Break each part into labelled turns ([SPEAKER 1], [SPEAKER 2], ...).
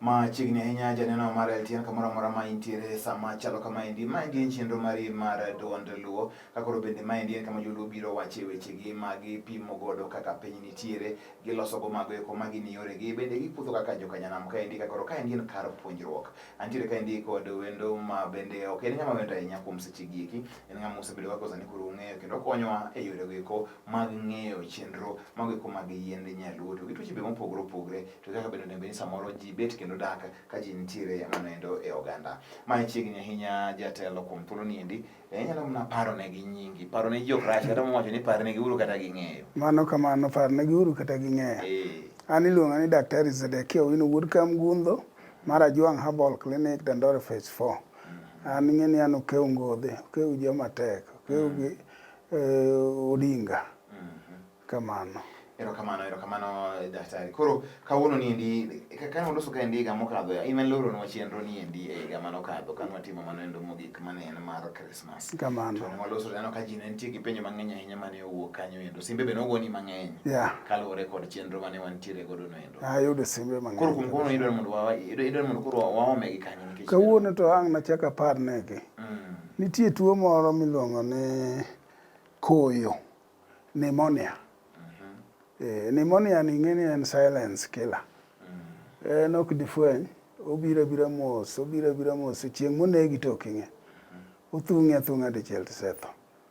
[SPEAKER 1] Machiegni ahinya janeno mar LTN kamoro amora ma intiere sama chalo kama endi. Ma endi en chenro mari mar duond Luo. Ka koro bende ma endi en kama joluo biro wache wechegi ma gipimo godo kaka piny nitiere, giloso go mago eko ma gin yoregi. Bende gikudho kaka joka nyanam ka endi ka koro ka endi en kar puonjruok. Antiere ka endi kod wendo ma bende ok en ng'ama wendo ahinya kuom sechegi eki. En ng'ama osebedo ka koro sani koro ung'eyo kendo okonyowa e yorego eko mag ng'eyo chenro mago eko mag yiend nyaluo to gi tuoche be mopogore opogore to kaka bende onego ni samoro ji bet kendo dak ka ji nitiere manoendo e oganda. Mae chiegni ahinya jatelo kuom thuolo ni endi eh, inyalo mana paro ne gi nyingi, paro ne ji ok rach kata mwacho ni par ne gi uru kata ging'eyo. Mano kamano par ne gi uru kata ging'eyo. Eh. An iluonga ni Daktari Zedekia Owino Wuod Kamgundo mar Ajwang' Herbal Clinic Dandore Phase 4. Mm. An ing'e ni an okew ngodhe, okew joma tek, okew mm. gi Odinga. Kamano. Erokamano, erokamano eh, daktari. Koro kawuono ni endi eh, kane waloso ka endi higa mokadho, in aloronwa chenro ni endi e higa mane okadho kane watimo mano endo mogik mane en mar Christmas. Kamano. To ne waloso neno ka ji ne nitie gi penjo mang'eny ahinya mane owuok kanyo endo. Simbe be nogoni mang'eny. Yeah. Kaluwore kod chenro mane wantiere godo no endo. Ayudo simbe mang'eny. Koro kuom kono idwaro mondo wawa idwaro mondo koro waomegi kanyo nikech. Kawuono to ang' nachak apar negi. Mm. Nitie tuo moro miluongo ni koyo, pneumonia. Mm-hmm. Eh, pneumonia ni ng'eni en silence killer. Mm. En ok difweny, obiro abira mos, obiro abira mos, chieng' monegi to ok ing'e. Mm-hmm. Othung'e athung'a dichiel tisetho.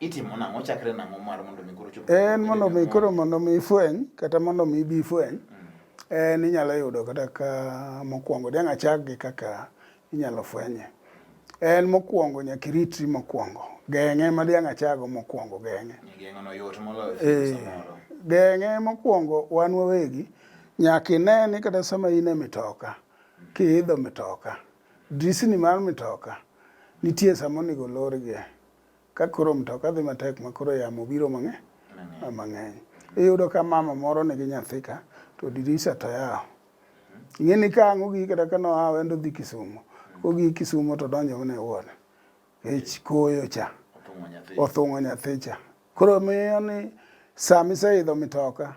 [SPEAKER 1] Itimo nang'o chakre nang'o mar mondo mi koro chop? En mondo mi koro mondo mi ifweny kata mondo mi ibi ifweny. Mm. En inyalo yudo kata ka mokwongo dang' achak gi kaka inyalo fwenye. En mokwongo nyaka iritri mokwongo. Geng'e ma dang' achago mokwongo geng'e. Geng'o no yot moloyo eh, samoro. Geng'e mokwongo wan wawegi nyaka ine ni kata sama in e mitoka kiidho mitoka drisni mar mitoka nitie sama onego olorgie Ka koro mtoka dhi matek ma koro yamo biro mang'eny mang'eny. Iyudo ka mama moro nigi nyathi ka to dirisa to yawo. Ing'e ni ka ang' ogik kata ka noa wendo dhi Kisumo. Kogik Kisumo to donjo mana e ward. Kech koyo cha. Othung'o nyathi cha. Koro miyo ni sama iseidho mitoka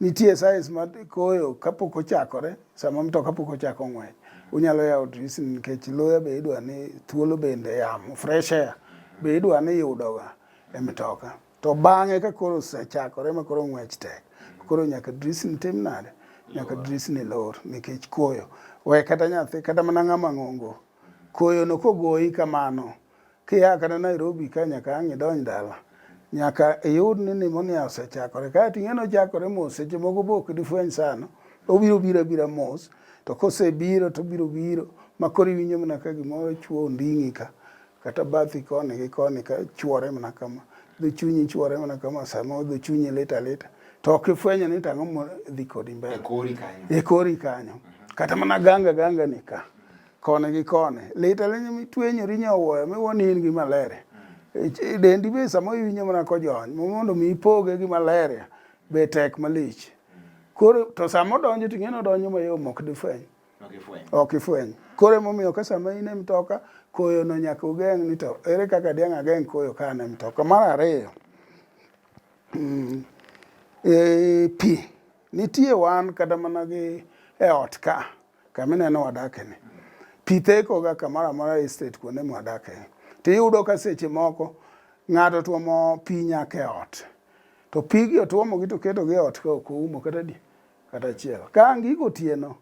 [SPEAKER 1] Nitie size ma koyo kapok ochakore, sama mtoka pok ochako ng'wech. Unyalo yawo dirisni nikech luya be idwa ni thuolo bende yamo, fresh air be idwa ni yudoga e mtoka. To bang'e ka koro osechakore ma koro ng'wech tek, koro nyaka dirisni tim nade? Nyaka dirisni lor nikech koyo. We kata nyathi, kata mana ng'ama ng'ongo, koyono kogoyi kamano, Kia kata Nairobi ka nyaka ang' idonj dala, nyaka iyud ni nimonia osechakore. Kae to ing'eno chakore mos, seche moko be ok difweny sana, obiro biro abira mos, to kosebiro to obiro biro ma koro iwinjo mana ka gimoro chwo onding'i ka, kata bathi koni gi koni ka chwore mana kama, dho chunyi chwore mana kama, sama dho chunyi lit alita, to ok ifwenyo ni tang'o dhi kodi mbele. E kori kanyo. E kori kanyo. Kata mana ganga ganga ni ka. koni gi koni lit alinyo mitwenyori nyowoyo miwoni in gi malaria e dendi be sama iwinjo mana kojony mondo mi ipoge gi malaria be tek malich koro to sama odonjo to ing'eni odonjo mayom ok difweny ok ifweny koro emomiyo ka sama in e mtoka koyono nyaka ugeng' ni to ere kaka diang' ageng' koyo ka an e mtoka mar ariyo mm, e, pi nitie wan kata mana gi e ot ka Kama ineno wadake ni. Pi theko ga kamoro amora e state kuonde mwadake. To iyudo ka seche moko ng'ato tuomo pi nyaka e ot. To pigi otuomogi to ketogi e ot ka ok oumo kata di kata achiel. Ka ang' gigo otieno,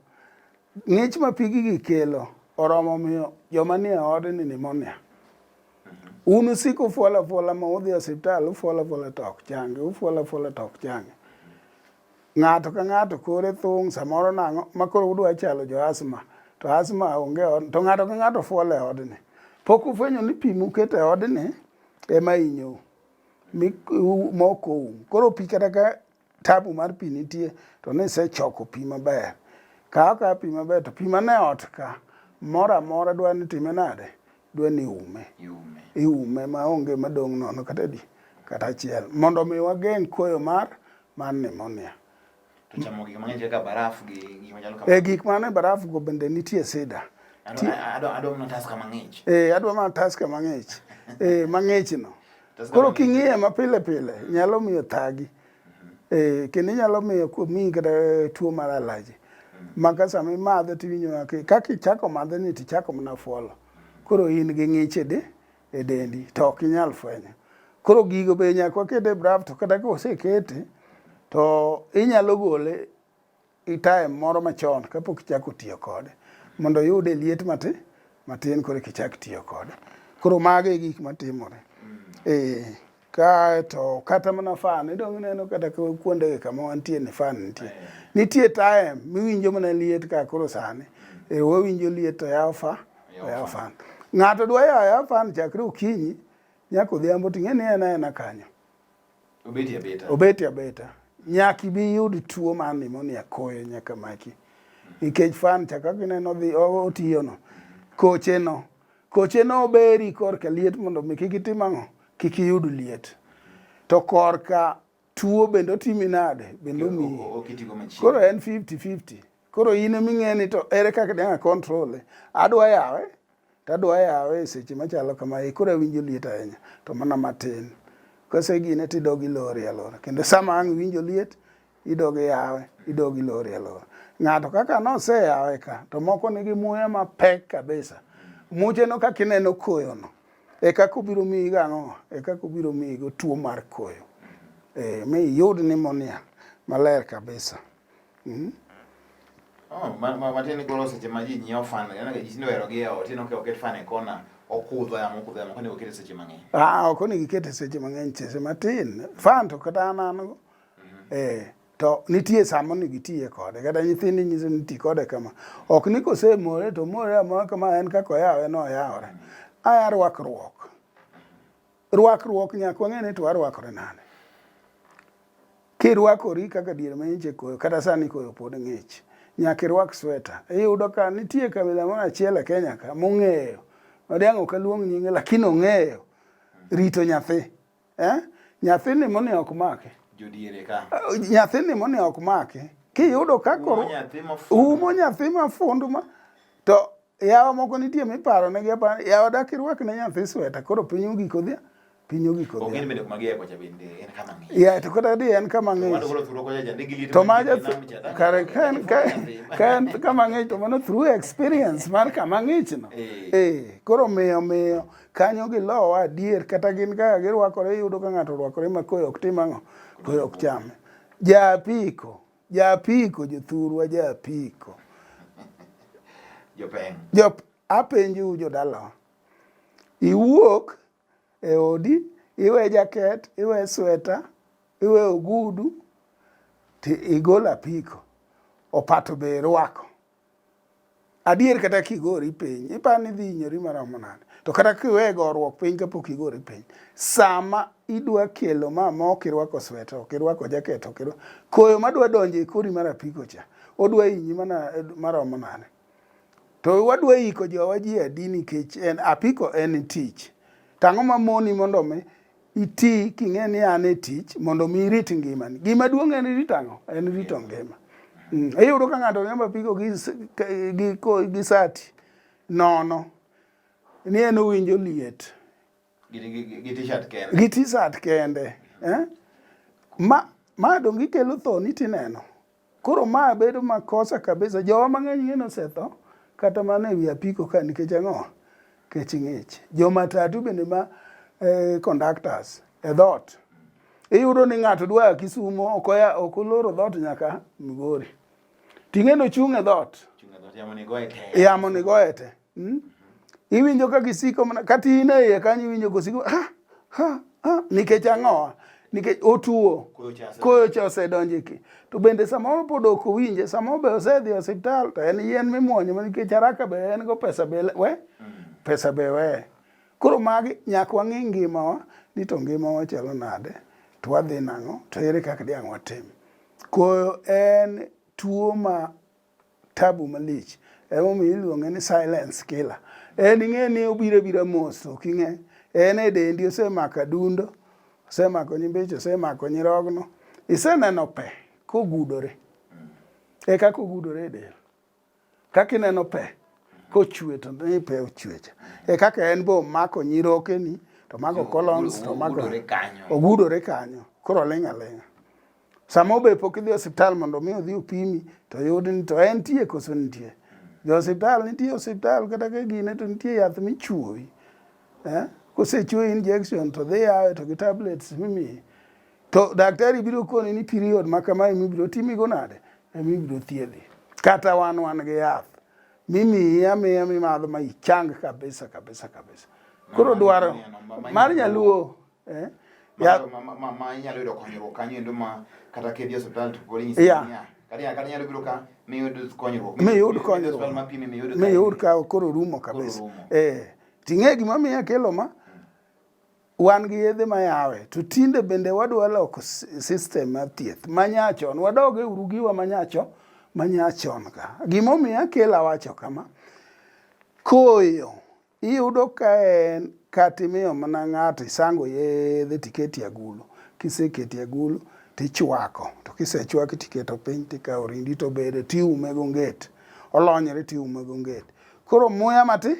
[SPEAKER 1] ng'ich ma pigi gi kelo oromo miyo joma nie odni nimonia. Un usiko fuala fuala ma udhi e osiptal, ufuala fuala to ok changi, ufuala fuala to ok changi. Ng'ato ka ng'ato kore thung' samoro nang'o ma koro udwa chalo jo asma to asma onge od to ng'ato ka ng'ato fuol e odni. Pok ufwenyo ni pi muketo e odni ema inyou mokou. Koro pi kata ka tabu mar pi nitie to nisechoko pi maber. Kaw ka pi maber to pi mane ot ka moro amora dwa ni time nade? Dwa ni ume. Iume ma onge madong' nono kata di kata achiel mondo mi wageng' koyo mar mar pneumonia. To chamo gik mang'eny kaka baraf gi gik machalo kamano. Eh, gik mane baraf go bende nitie sida. Adwa mana taska mang'ich. Eh, adwa mana taska mang'ich. Eh, mang'ich no. Koro king'iye ma pile pile nyalo miyo thagi. Mhm. Eh, kendo nyalo miyo kuomi kata eh, tuo mar alaji. Mhm. Maka sama imadhe tiwinjo kaka ichako madhe ni tichako mana fuolo. Mhm. Koro in gi ng'iche di. e dendi to ok inyal fwenyo. Koro gigo be nyaka waket e brav to kata ka osekete to inyalo gole itaye moro machon kapok ichako tiyo kode mondo oyude liet matin matin koro kichak tiyo kode. Koro mago e gik matimore. Mm. Eh. Kae to kata mana fan, idong' ineno kata kuondegi kama wantie ni fan nitie. Nitie time miwinjo mana liet ka koro sani. E wawinjo liet to yaw fa, oyaw fan. Ng'ato dwa yaw yaw fan chakre okinyi nyaka odhiambo to ing'e ni en aena kanyo. Obeti abeta. Obeti abeta. Nyaka ibi iyud tuo mar pneumonia koyo nyaka maki. Nikech fan cha kaka ineno dhi otiyono, kocheno. Koche no beri korka liet mondo mi kik itim ang'o? Kik iyud liet. To korka tuo bende otimi nade? Bende omiyi. Koro en 50 50. Koro in emi ng'e ni to ere kaka dang' control e. Adwa yawe to adwa yawe e seche machalo kama e koro awinjo liet ahinya to mana matin. Kose gine tidogi lori alora. Kendo sama ang' iwinjo liet idog iyawe idog ilori alora ng'ato kaka noseyawe ka to moko nigi muya mapek kabisa mucheno kaka ineno koyono e kaka obiro miyi gang'o e kaka obiro miyi go tuo mar koyo e, mi iyud nimonia maler kabisa mm? Oh, matiende koro seche ma ji nyiewo fan yana ji tindo hero gi ot tindo ke oket fan e kona okudho yamo okudho yamo kone okete seche mang'eny ah ok onego ikete seche mang'eny seche matin fan to kata an an eh to nitie samo ni gitiye kode kata nyithindi nyiso ni ti kode kama ok ni kosemore to more amora kama en kaka oyawe no oyawore aya rwakruok rwakruok nyaka wang'e ni to warwakore nade kirwakori kaka dier ma nyiche koyo kata sani koyo pod ng'ich nyaka irwak sweta iyudo ka nitie kabila moro achiel e kenya ka mong'eyo odiang' ok aluong nyinge lakini ong'eyo rito nyathi Eh? Nyathini moni ok make. Jodiere ka. Eh, nyathini moni ok make. Kiyudo ka koro umo nyathi mafundu ma to yawa moko nitie miparo ne giapa yawa dak irwak ne nyathi sweta koro piny ogiko dhia piny ogiko dhia. Ogin bende kuma giya kocha bende en kama ng'ich. Ya to kata di en kama ng'ich. Mano koro thuro kocha jande gi liet. To ma ja kare kan kan kama ng'ich to mano through experience mar kama ng'ich no. Eh. eh koro miyo miyo kanyo gilowa adier kata gin kaka girwakore iyudo ka ng'ato orwakore ma koyo ok tim ang'o koyo ok chame jaapiko jaapiko jothurwa jaapiko jop apenjou jodalawa iwuok e odi iwe jaket iwe sweta iwe ogudu ti igol apiko opato be irwako Adier kata kigori piny, iparo ni idhi hinyori maromo nade? To kata kiwe goruok piny kapok igori piny, sama idwa kelo ma mok irwako sweta, ok irwako jaket, ok irwako koyo madwa donjo e kori mar apiko cha, odwa hinyi mana eh, maromo nade? To wadwa iko jowa ji adi nikech en apiko en tich. Tang'o ma moni mondo mi iti king'e ni an e tich mondo mi irit ngimani. Gima duong' en rito ang'o? En rito ngima. Mm. Iyudo ka ng'ato riembo apiko gi, gi, gi sati nono ni en owinjo liet gi t-shirt kende, gi t-shirt kende. Eh? Ma, ma donge ikelo thoni tineno Koro ma bedo makosa kabisa. Jowa mang'eny ng'eno osetho kata mana e wi apiko ka nikech ang'o? Kech ng'ich. Jo matatu bende ma eh, conductors e dhot. Iyudo ni ng'ato dwa ya Kisumo ok oya ok oloro dhot nyaka Migori. Ting'eno chung' e dhot. Chunga dhoot yamo ni goye te. Yamo ni goye te. Hmm? Iwinjo ka gisiko mana kata in e iye kanyo iwinjo kosiko ha ha ha nikech ang'owa nikech otuo koyo cha osedonjo ki to bende samoro pod ok owinje samoro be osedhi e osiptal to en yien mimwonyo ma nikech haraka be en go pesa be we mm. pesa be we koro magi nyaka wang'i ngimawa ni to ngimawa chalo nade to wadhi nang'o to ere kaka diang' watim koyo en tuo ma tabu malich emomiyo iluonge ni silence killer en ing'e ni obiro abira mos ok ing'e en e dendi osemako adundo osemako nyimbeche osemako nyirogno iseneno pe kogudore e kaka ogudore e del kaka ineno pe kochwe to ni pe ochwecha e kaka en be omako nyirokeni to mago colons to mago ogudore kanyo koro oling' aling'a Sama obe pok idhi osiptal mondo mi odhi opimi to yud ni to en tie koso nitie. Jo osiptal nitie osiptal kata ka gine to nitie yath michuoyi. Eh? Kosechuoyi injection to dhi yawe to gi tablets mimiyi. To daktari biro koni ni period ma kama emi biro timigo nade? Emi biro thiedhi. Kata wan wan gi yath. Mimiyi amiya mimadho ma ichang kabisa kabisa kabisa. Koro dwaro mar nyaluo eh? ya ma ma ma ma inyalo yudo konyruok kanyo endo ma kata kedhi e osiptal to podi nyisi yeah. niya kata ya kata nyalo biro ka mi yud konyruok mi yud konyruok ma pimi mi yud mi yud ka koro rumo kabisa eh ting'e gima miya kelo ma wan gi yedhe ma yawe to tinde bende wadwa loko system mar thieth ma nyachon wadoge uru giwa ma nyacho ma nyachon ka gimomiyo akela wacho kama koyo Iyudo ka en kata imiyo mana ng'ato isango yedhe tiketi e agulu. Kiseketi e agulu tichwako to kisechwaki tiketo piny tikawo rindi to bede tiume go nget. Olonyre tiume go nget. Koro muya mati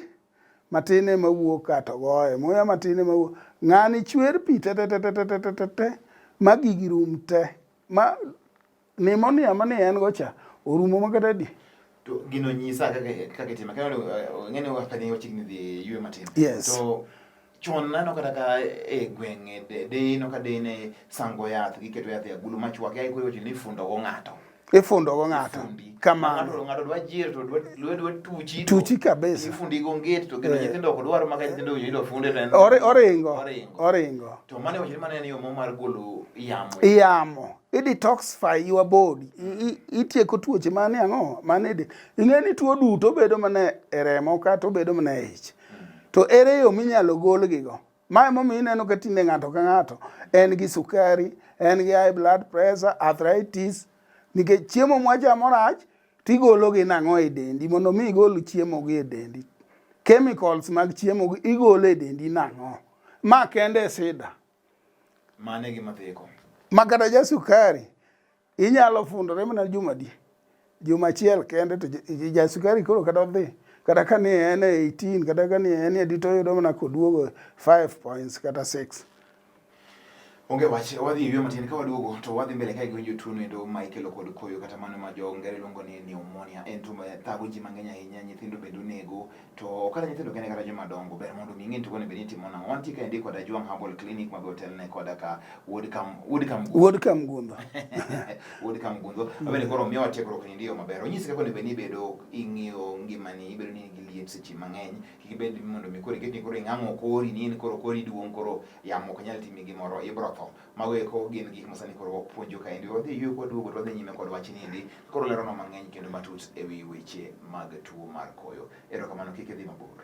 [SPEAKER 1] matin ema wuok kato goye. Muya matin ema wuok. Ng'ani chwer pi te te te te te te te te ma gigi rum te. Ma Nimonia ma ne en go cha orumo ma kata di. To gino nyisa kaka kaka itima. Kaka uh, ng'ene wa kadhi wachigni dhi yue matin. Yes. To chon nano kata ka e gwenge de de no ka de ne sango yath giketo yath e agulu machwake ai koyo ni fundo go ng'ato. Ifundo go ng'ato. Fundi. Kamano. Ng'ato ng'ato dwa jir to dwa dwa dwa tuchi. to Tuchi kabisa. Ifundi go nget to gino Eh. nyithindo ok dwar maka nyithindo winjo ni dwa funde to en. Ore- Oringo. Oringo. Oringo. To mane wachore mane en yo mar golo yamo. Iyamo. i detoxify your body itieko tuoche mane ang'o mane de ing'e ni tuo duto bedo mana e remo kata obedo mana e ich to ere yo minyalo golgigo mae momiyo ineno ka tinde ng'ato ka ng'ato en gi sukari en gi high blood pressure arthritis nikech chiemo mwachamo rach tigologi nang'o e dendi mondo mi igol chiemogi e dendi chemicals mag chiemogi igolo e dendi nang'o ma kende e sida Mane gi matheko. Makata ja sukari inyalo fundore mana juma di. Juma achiel kende to ja sukari koro kata odhi kata ka ni en e 18 kata ka ni en e dito yudo mana koduogo 5 points kata 6. Onge wach wadhi ywe matin ka waduogo to wadhi mbele ka giwinjo tuo endo ma ikelo kod koyo kata mano ma jo ngere luongo ni pneumonia en tuo ma thago ji mang'eny ahinya nyithindo bende onego To kata nyithindo kende kata joma dongo ber mondo mi ing'e tugo ni beni timo nang'o. Wantie ka endi koda Juang Herbal Clinic ma be otelne koda ka Wuod Kam Wuod Kam Wuod Kam Gundo. Wuod Kam Gundo. Abende koro miyo watiegruok ni ndiyo maber. Onyisi kaka onego ibedo ing'iyo ngimani ibedo ni gi liet seche mang'eny. Kik ibed mondo mi koro iket ni koro ing'ang'o kori ni koro kori duong' koro yamo ok nyal timi gimoro ibro tho. Mago eko gin gik masani koro wapuonjo kaendi. Wadhi ywe kwaduogo to wadhi nyime kod wach niendi. Koro leronwa mang'eny kendo matut e wi weche mag tuo mar koyo. Erokamano kik idhi mabor.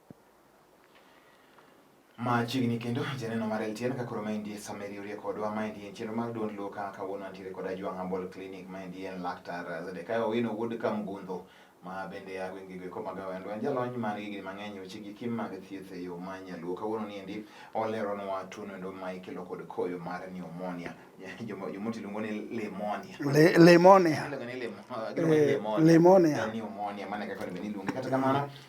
[SPEAKER 1] machiegni kendo janeno mar LTN ka koro maendi sama iriwrie kodwa maendi en chenro mar duond Luka kawuono antiere kod Ajwang' Herbal Clinic maendi en laktar Zedekiah Owino wuod Kamgundho ma bende a gwenge go eko mag Awendo en jalony man gi gini mang'eny weche gi kim mag thieth e yo ma nyaluo kawuono ni endi oleronwa tuono endo ma ikelo kod koyo mar pneumonia jomoti luongo ni limonia limonia limonia limonia mane kaka ni bende iluonge kata kamano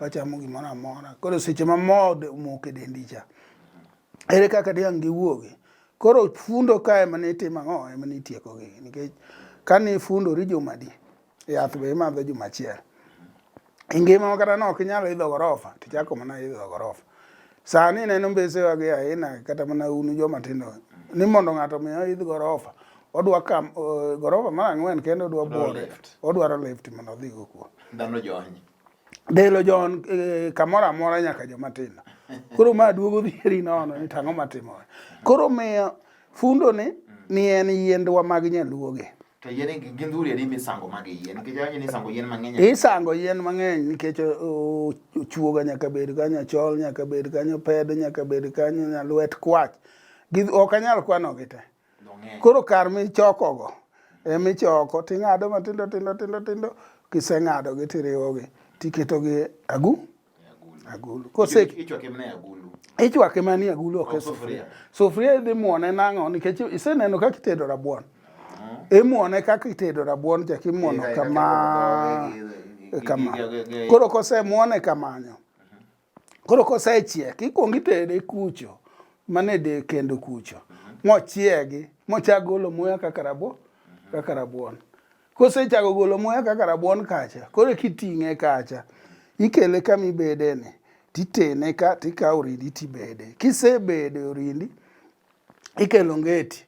[SPEAKER 1] wachamo gimoro amora koro seche ma mo omok e dendi cha ere kaka diang' giwuogi koro fundo ka ema ne itimo ang'o ema ne itiekogi nikech kane ifundori jumadi yath be imadho juma achiel e ngima kata ne ok inyal idho gorofa to ichako mana idho gorofa sani ineno mbesewa gi aina kata mana un joma tindo ni mondo ng'ato omi oidh gorofa odwa kam eh, gorofa mar ang'wen kendo odwa bwore odwaro lift mondo odhigo kuo ndalo jony Delo John eh, kamoro amora nyaka joma tindo. Koro ma duogo dhieri nono ni tang'o matimore. Koro miyo fundo ni ni en yiendwa mag nyaluoge. To yien gi gindhuri adi misango mag yien nikech awinjo ni isango yien mang'eny. Isango yien mang'eny nikech ochuoga nyaka bed kanyo, achol nyaka bed kanyo, pedo nyaka bed kanyo, nyalwet kwach. Ok anyal kwanogi te. Koro kar michokogo emichoko ting'ado matindo tindo tindo tindo kiseng'adogi tiriwogi tiketogi e agu agulu ichwake mani agulu ok e sufuria sufuria idhi muone nang'o nikech iseneno kaka itedo rabuon uh-huh. imuone kaka itedo rabuon chak imuono kama kama koro kosemuone kamanyo Koro kosechiek, ikwongo itere kucho, mane de kendo kucho, mochiegi, mochak golo muya kaka rabo, kaka rabuon. Kosechako golo muya kaka rabuon kacha, koro kiting'e kacha, ikele kama ibede ni, titene ka, tikawo orindi tibede. Kisebede orindi, ikelo ngeti,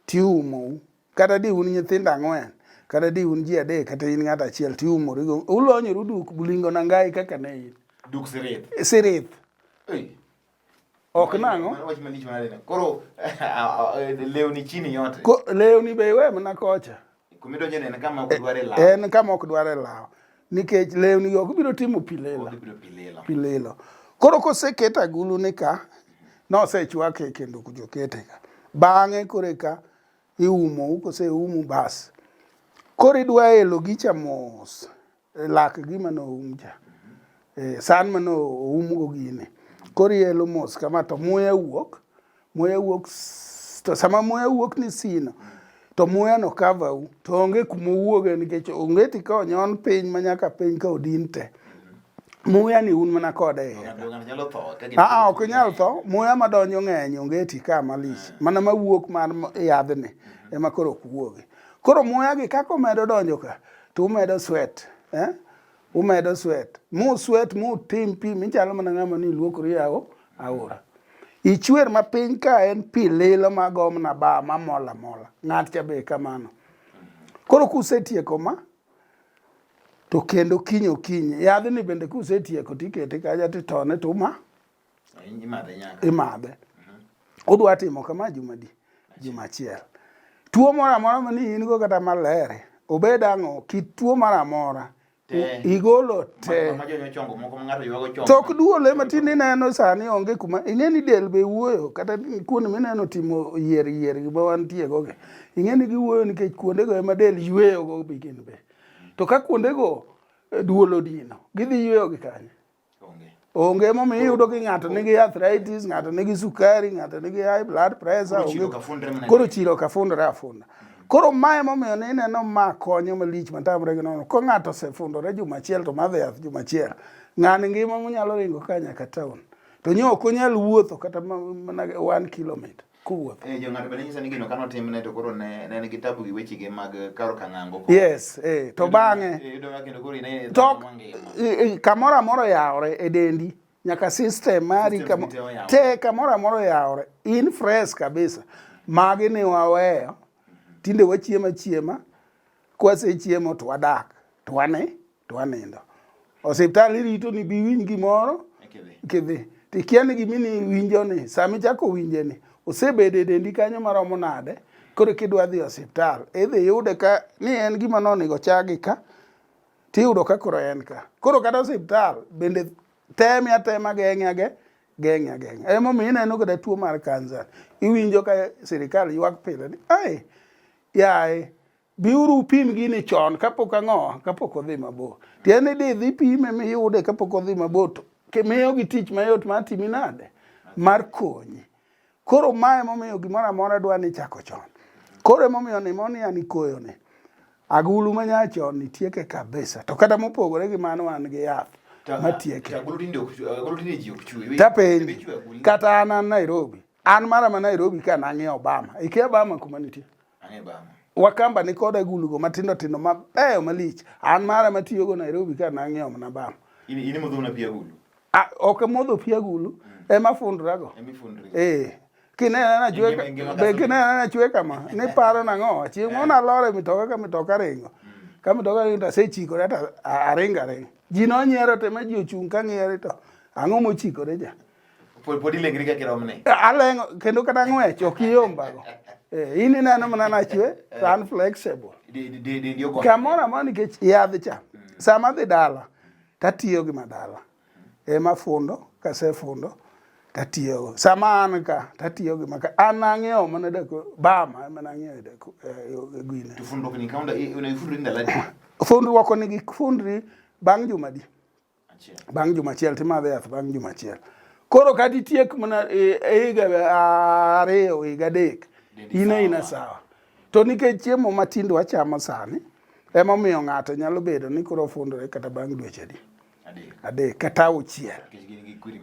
[SPEAKER 1] tiumou. kata di un nyithindo ang'wen kata di un ji adek kata in ng'ato achiel to iumorigo ulonyoru duk bulingo nangai kaka ne in duk sirith sirith ok nang'o koro lewni chini yote lewni be iwe mana kocha en kama ok dware lawo nikech lewni go ok biro timo pilelo pilelo koro koseket agulu ni ka nosechwake kendo kujokete ka bang'e koreka iumo kose umu bas koro idwa elo gicha mos e lak gima no um cha e, san mano oum go gini koro ielo mos kama to muya wuok muya wuok to sama muya wuok ni sino to muya no cover u to onge kuma owuoge nikech onge ti ka onyon piny manyaka piny ka odin te muya ni un mana kode e heka aa ok inyal tho muya madonjo ng'eny ongeti ka malich eh. mana mawuok mar yadhni mhm. ema koro ok wuogi koro muya gi kaka omedo donjo ka to umedo swet eh? umedo swet mu swet mu tim pi michalo mana ng'ama ni luokori yawo aora ichwer ma piny ka en pi lilo ma gomna ba ma mola mola ng'at cha be kamano mhm. koro kusetieko ma to kendo kiny okinyi yadhni bende kusetieko tikete kaja titone tuma imadhe udwa timo kama jumadi juma achiel tuo moro amora mani in go kata malere obed ang'o kit tuo moro amora igolo te tok duole matin ineno sani onge kuma ing'e ni del be wuoyo kata kuonde mineno timo yier yier gima wantiego gi Ing'e ni giwuoyo nikech kuondego ema del yweyogo be gin be. To ka kuondego eh, duol odino, gidhi yweyo gi kanye? Onge momiyo iyudo ki ng'ato nigi arthritis, ng'ato nigi sukari, ng'ato nigi high blood pressure, onge koro chilo ka fundore afunda. Koro mae momiyo ne ineno ma konyo malich matamre gi nono. Ko ng'ato osefundore juma achiel to madhi yath juma achiel, ng'ani ngima monyalo ringo ka nyaka town. To nyo ok onyal wuotho kata mana one kilometer. kowuotho. Eh, jong'ato bende nyiso ni gino kano timne to koro ne ne nigi tabu gi wechege mag karo kang'ango. Yes, eh, to bang'e. Eh, Yudo ka kendo koro in e To i- i- kamoro amoro yawore e dendi nyaka system mari Systems kamo- te oyawore. te kamoro amoro yawore in fresh kabisa magi ni waweyo tinde wachiemo achiema kwasechiemo to wadak to wane to anindo. Osiptal irito ni biwinj gimoro kidhi tikia ni gimi ni winjo ni sama ichako winje ni osebedo e dendi kanyo maromo nade koro kidwa dhi osiptal idhi yude ka ni en gima nonego chagi ka tiyudo ka koro en ka koro kata osiptal bende teme atema geng'e ageng'e geng'e ageng'e emomiyo ineno kata tuo mar kansa iwinjo ka sirikal ywak pile ni ai yaye Biuru upim gini chon kapok ang'o kapok odhi mabor. Tiende ni dhi pime miyude kapok odhi mabor to miyo gi tich mayot mar timi nade mar konyi. Koro mae momiyo gimoro amora dwa ni chako chon. Koro emomiyo ni moni ani koyo ni. Agulu ma nyachon ni tieke kabisa. To kata mopogore gi mano wan gi yath matieke. Tapenji kata an Nairobi. An mara ma Nairobi ka nang'e Obama. Ikia Obama kuma nitie. Wakamba ni koda gulugo matindo tindo mabeyo malich. An mara matiyogo Nairobi ka nang'iewo mana bam. In in modho na pia gulu. Ah, ok modho pia gulu. Mm. Ema fundra go. Ema fundra. Eh. Kinena na chwe be kinena na chwe kama ni paro na ngo. Chi mo na lore mitoka ka mitoka ringo. Mm. Ka mitoka ringo ta se chiko ta aringa ringo. Ji no nyiero te ma ji ochung ka ngiere to. Ang'o mochikore ja? Pod ilengri ka kiromne. Alengo kendo kata ng'wech ok iyombago. Eh, in ineno mana nachwe eh. to an flexible. Kamoro amoro nikech yadh cha. Mm. Sama adhi dala tatiyo gi madala. Ema fundo kasefundo tatiyogo. Sama an ka tatiyo gi maka an ang'iewo mana dako bama ema nang'iewo dako e gwine. To fundo ni kaunda unaifundo ndala. Fundruok ni gi fundri bang' juma di. bang' juma achiel timadhe yath bang' juma achiel koro kata itiek mana e, e higa ariyo higa adek in aina sawa to nikech chiemo matindo wachamo sani emomiyo ng'ato nyalo bedo ni koro ofundore kata bang' dweche adi adek kata auchiel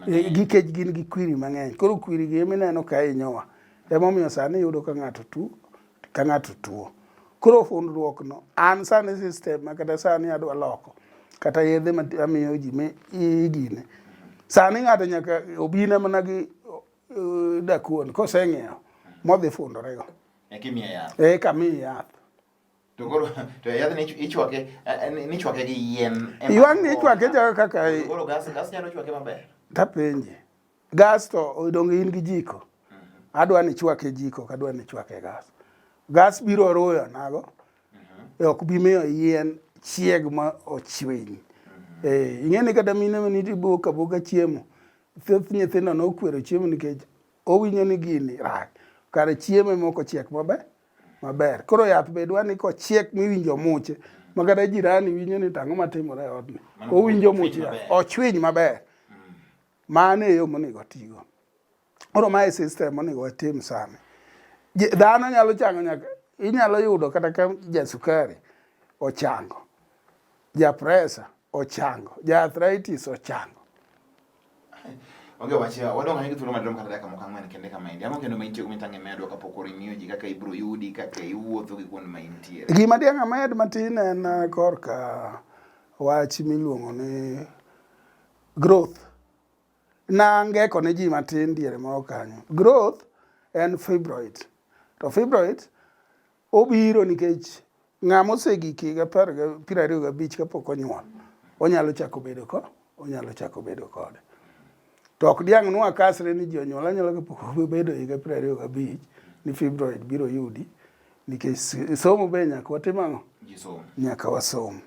[SPEAKER 1] nikech gin gi kwiri mang'eny koro kwiri gi emineno ka inyowa emomiyo sani yudo ka ng'ato tu ka ng'ato tuo. Koro fundruok no an sani system kata sani adwa loko kata yedhe ma amiyo ji me igine. Sani ng'ato nyaka obina mana gi uh, dakuon koseng'iewo modhi fundore go. Eka imiye yath. Eka miye yath. To koro to yadh ni ichwake eh, eh, ni chwake gi yien. Ywang ni ichwake jaga kaka. Koro gas gas nyalo chwake maber. Tapenje. Gas to odong in gi jiko. Adwa ni chwake jiko, kadwa ni chwake gas. Gas biro ruyo nago. E ok bi miyo yien chieg ma ochwiny. Eh, ing'e ni kata mine ma nitie bok aboka chiemo. Thoth nyithindo nokwero chiemo nikech owinjo ni gini rach. Kare chiemo ema ok ochiek maber. Maber. Koro yath be dwa ni kochiek miwinjo muche. Ma kata jirani winjo ni tang'o matimore e odni. Owinjo muche. Ochwiny maber. Mano e yo monego otigo. Koro mae system monego watim sani. Dhano nyalo chango nyaka inyalo yudo kata ka jasukari ochango, japresa ochango, jaarthritis ochango. Onge wach wadong ahinya thuolo maduong' kata dakika moko ang'wen kende kama endi. Ang'o kendo ma intie mitang' imedo kapok orimiyo ji kaka ibiro yudi kaka iwuotho gi kuonde ma intiere. Gima diang' amed matin en uh, korka wach miluongo ni Growth. Nangeko ne ji matin diere moro kanyo. Growth en fibroid. To fibroid obiro nikech ng'ama osegik higa piero ariyo gabich kapok onyuol, onyalo chako bedo ko, onyalo chako bedo kode. To ok diang' nwa kasre ni ji onyuol anyuola kapok obedo higa piero ariyo gabich ni fibroid biro yudi nikech somo be nyaka watim ang'o? Nyaka wasom.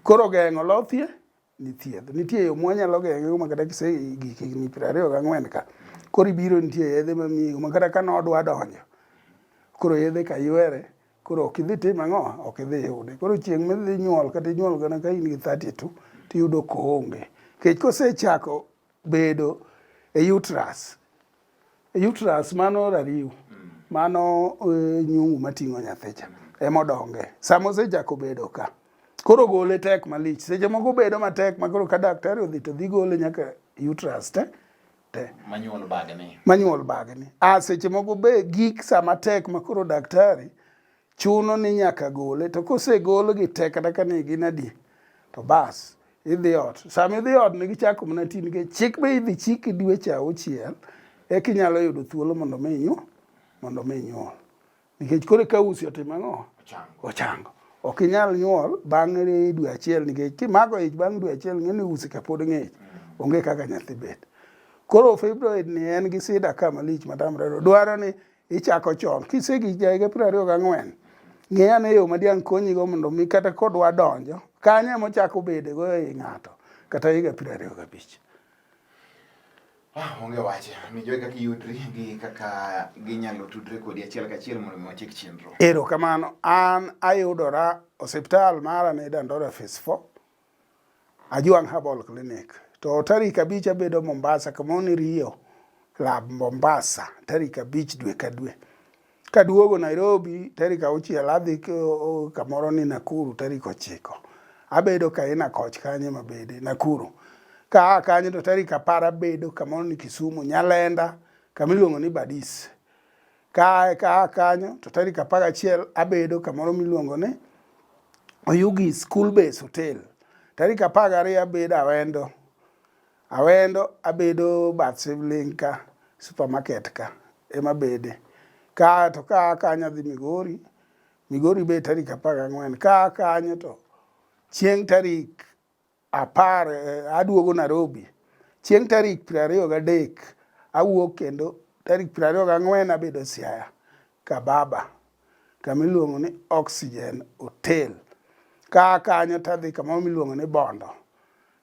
[SPEAKER 1] Koro geng'o lothie ni thieth. Nitie yo mwanyalo geng'ego ma kata kise gik higni piero ariyo gang'wen ka koro ibiro nitie yedhe mamiyi ma kata ka nodwa donjo koro yedhe ka ywere koro ok idhi tim ang'o ok idhi yude koro chieng' midhi nyuol kata inyuol gana ka in gi 32 tiyudo koonge kech kosechako bedo e uterus Uterus mano rariw. Mm. Mano e, nyungu mating'o nyathicha mm. emodonge. Sama osechako bedo ka. Koro gole tek malich. Seche moko bedo matek makoro ka daktari odhi to dhi gole nyaka uterus te. Te. Manyuol bagni. Manyuol bagni. A ah, seche moko be gik sama tek makoro daktari chuno ni nyaka gole to kosegol gi te kata ka ne gin adi to bas idhi ot sama idhi ot ne gichako mana ti nikech chik be idhi chik dweche auchiel e kinyalo yudo thuolo mondo mi inyu mondo mi inyuol nikech koro ka usi otimo ang'o ochango ok inyal nyuol bang' dwe achiel nikech kimago ich bang' dwe achiel ng'e ni usi kapod ng'ich mm. onge kaka nyathi bet koro fibroid ni en gi sida ka malich matamre dwaro ni Ichako chon, kisegi jaiga piero ariyo gang'wen, ng'e ane yo ma diang' konyigo mondo mi kata kodwa donjo, kanyo ema ochako bede go ei ng'ato, kata higa piero ariyo gabich. Ah, onge wache, mi jogi kaka iyudri gi kaka ginyalo tudre kodi achiel kachiel mondo mi wachik chenro. Ero kamano, an ayudora osiptal mara ni Dandora Phase 4, Ajwang' Herbal Clinic. To tarik abich abedo Mombasa kama ni Rio Club Mombasa tarik abich dwe ka dwe. Kaduogo Nairobi tarik auchiel adhi kamoro ni Nakuru tarik ochiko. Abedo Kaina Koch kanye mabede Nakuru. Ka kanye to tarik apar abedo kamoro ni Kisumu Nyalenda kama iluongo ni Badis. Ka ka kanyo to tarik apar gachiel abedo kamoro miluongo ni Oyugi School Base Hotel. Tarik apar gariyo abedo Awendo. Awendo abedo bath Sibling ka supermarket ka ema bede. Ka to ka kanyo adhi Migori. Migori be tarik apar gang'wen. Ka kanyo to chieng' tarik apar eh, aduogo Nairobi chieng' tarik piero ariyo gadek awuok kendo tarik piero ariyo gang'wen abedo Siaya Kababa kama iluongo ni Oxygen Hotel ka kanyo tadhi kamoro miluongo ni Bondo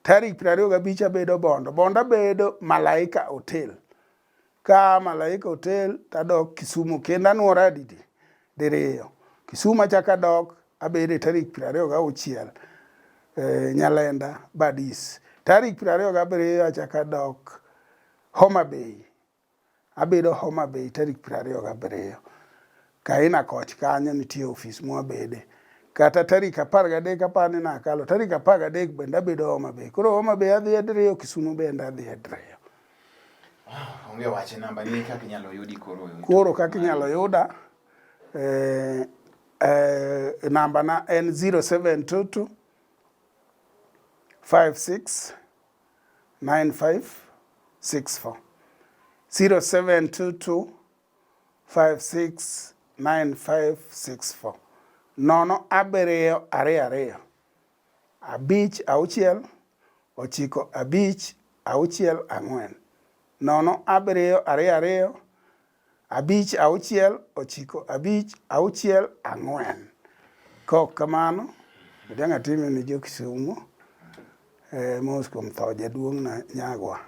[SPEAKER 1] tarik piero ariyo gabich abedo Bondo Bondo abedo Malaika Hotel Ka malaika otel to adok Kisumu kendo anwora adidi diriyo. Kisumu achako adok abede tarik piero ariyo gauchiel e, Nyalenda Badis. Tarik piero ariyo gabiriyo achako adok Homa Bay. Abedo Homa Bay tarik piero ariyo gabiriyo. Kaina koch kanyo nitie ofis mwabede kata tarik apar gadek apar ni nakalo tarik apar gadek bende abedo Homa Bay. Koro Homa Bay adhi adreyo, Kisumu bende adhi adreyo. Ah, onge wach e namba ni kaka inyalo yudi koro. Koro kaka inyalo yuda eh, eh, namba na en 0722 56 95 64 0722 569564 nono abiriyo ariyo ariyo abich auchiel ochiko abich auchiel ang'wen nono abiriyo ariyo ariyo abich auchiel ochiko abich auchiel ang'wen kok kamano odanga time ni jo Kisumu eh, mos kuom tho jaduong'na nyagwa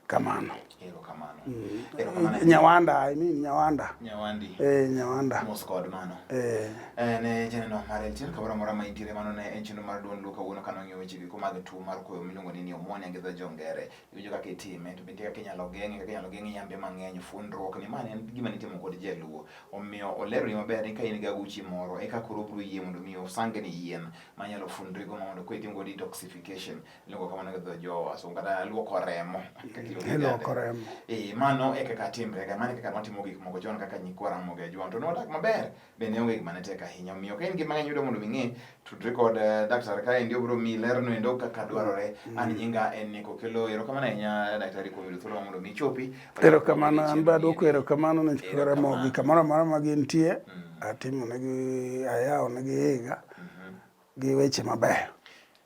[SPEAKER 1] kamano mm. nyawanda I mean, nyawanda nyawandi eh nyawanda mos kod mano eh eh ne chenro mar en chenro kamoro amora ma intiere mano ne en chenro mar duond luka wuono kano ng'eyo weche giko mag tuo mar koyo miluongo ni pneumonia gi dho jongere iwinjo kaka itime to bende kaka inyalo geng'e kaka inyalo geng'e yambe mang'eny fundruok ni mano en gima nitimo kod jaluo omiyo olero ni maber ni ka in gi aguchi moro eka koro obiro yie mondo mi osang ni yien manyalo fundrigo mondo koro itim go detoxification Luongo kamano gi dho Jowa, so kata luoko remo. Luoko remo. Eh, mano e kaka timre ga, mano e kaka notimo gik moko chon kaka nyikwa Ramogi Ajwang' to nodak maber, bende onge gima ne tek ahinya. Omiyo ka in gi mang'eny yudo mondo ming'e, tudri kod eh, daktari ka endi obiro miyi lerno endo kaka dwarore. Mm. An nyinga en Nico Kelo, erokamano ahinya daktari kuom yudo thuolo mondo mi ichopi. Erokamano, an be adwoko erokamano ne nyikwa Ramogi kamoro amora ma gintie, mm. atimo negi ayawo negi higa mm-hmm. gi weche mabeyo.